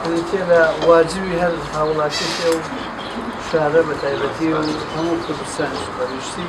بریتیە لە واجبی هەر هاوڵاتیەکی ئەو شارە بە تایبەتی و هەموو کوردستانیش بە گشتی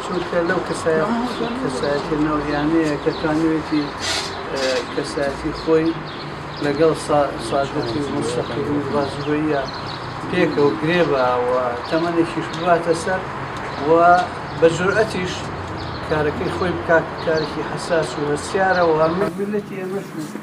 چونکە لەو کەسایەتە ناویانەیە کە توانوێتی کەسایەتی خۆی لەگەڵ سادەتی و مستەقیم و بازگۆیە پێکەوە گرێ باوە تەمەێکیش باتە سەر و بە جورئەتیش کارەکەی خۆی بکات کارێکی حساس و هەستیارەوە هەموو ملەتی ئەمەش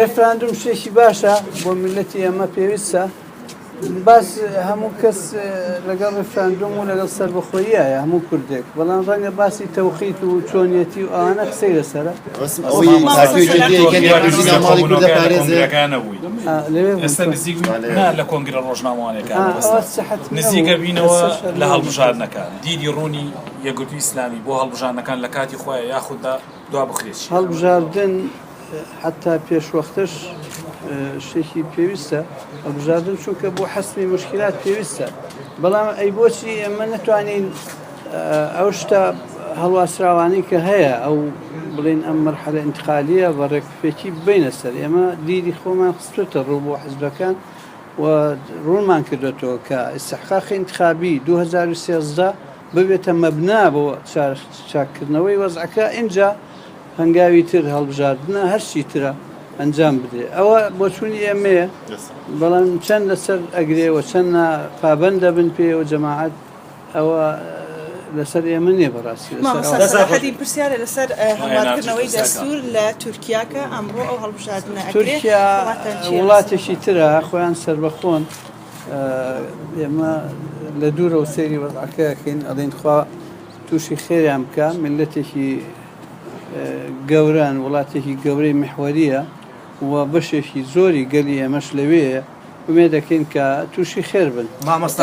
ڕێفراندوم شتێکی باشە بۆ ملەتی ئەمە پێویستە باس هەموو کەس لەگەڵ ڕفراندۆم و لەگەڵ سربەخۆیە هەموو کوردێک بەڵام ڕەنگە باسی تەوقیت و چۆنیەتی و ئەوانە قسەی لەسرە لە کۆنگرە ڕۆژنامەوانەکە نزیکە بینەوە لە هەڵبژاردنەکە دیدی ڕوونی یەکگرتوو ئیسلامی بۆ هەڵبژانەکان لە کاتی خۆیان یاخوددا هەڵبژاردن حەتا پێشوەختەش شتێکی پێویستە هەڵبژاردن چونکە بۆ حەسمی مشکلات پێویستە بەڵام ئەی بۆچی ئێمە نتوانین ئەو شتە هەڵواسراوانی کە هەیە ئەو بڵین ئەم مەرحەلە انتقالیە بە ڕێکفێکی بینە سەر ئێمە دیری خۆمان خستێتە ڕوو بۆ حزبەکان و ڕوونمان کردێتەوە کە ئستحقاقی انتخابی 2013 ببێتە مەبنا بۆ چاککردنەوەی وەزعەکە ئینجا هەنگاوی تر هەڵبژاردنە هەرچی ترە ئەنجام بدرێت ئەوە بۆچوونی ئێمەیە بەڵام چەند لەسەر ئەگرێەوە چەند پابند دەبن پێەوە جەماعات ئەوە لەسەر ئێمە نیە بەڕاستی پرسیارە لەسەر هەڵاتکردنەوەی دەستور لە تورکیاکە ئەمڕۆ ئەو هەڵبژاردنە تورکیا وڵاتێکی ترە خۆیان سربەخۆن ئێمە لە دوورەوە سەیری وەزعەکە ئەکەین ئەڵێن خوا تووشی خێریان بکە ملەتێکی گەوران وڵاتێکی گەورەی محوەریە و بەشێکی زۆری گەلی ئێمەش لەوێ ومێ دەکەین کە تووشی خێر بن مامۆستا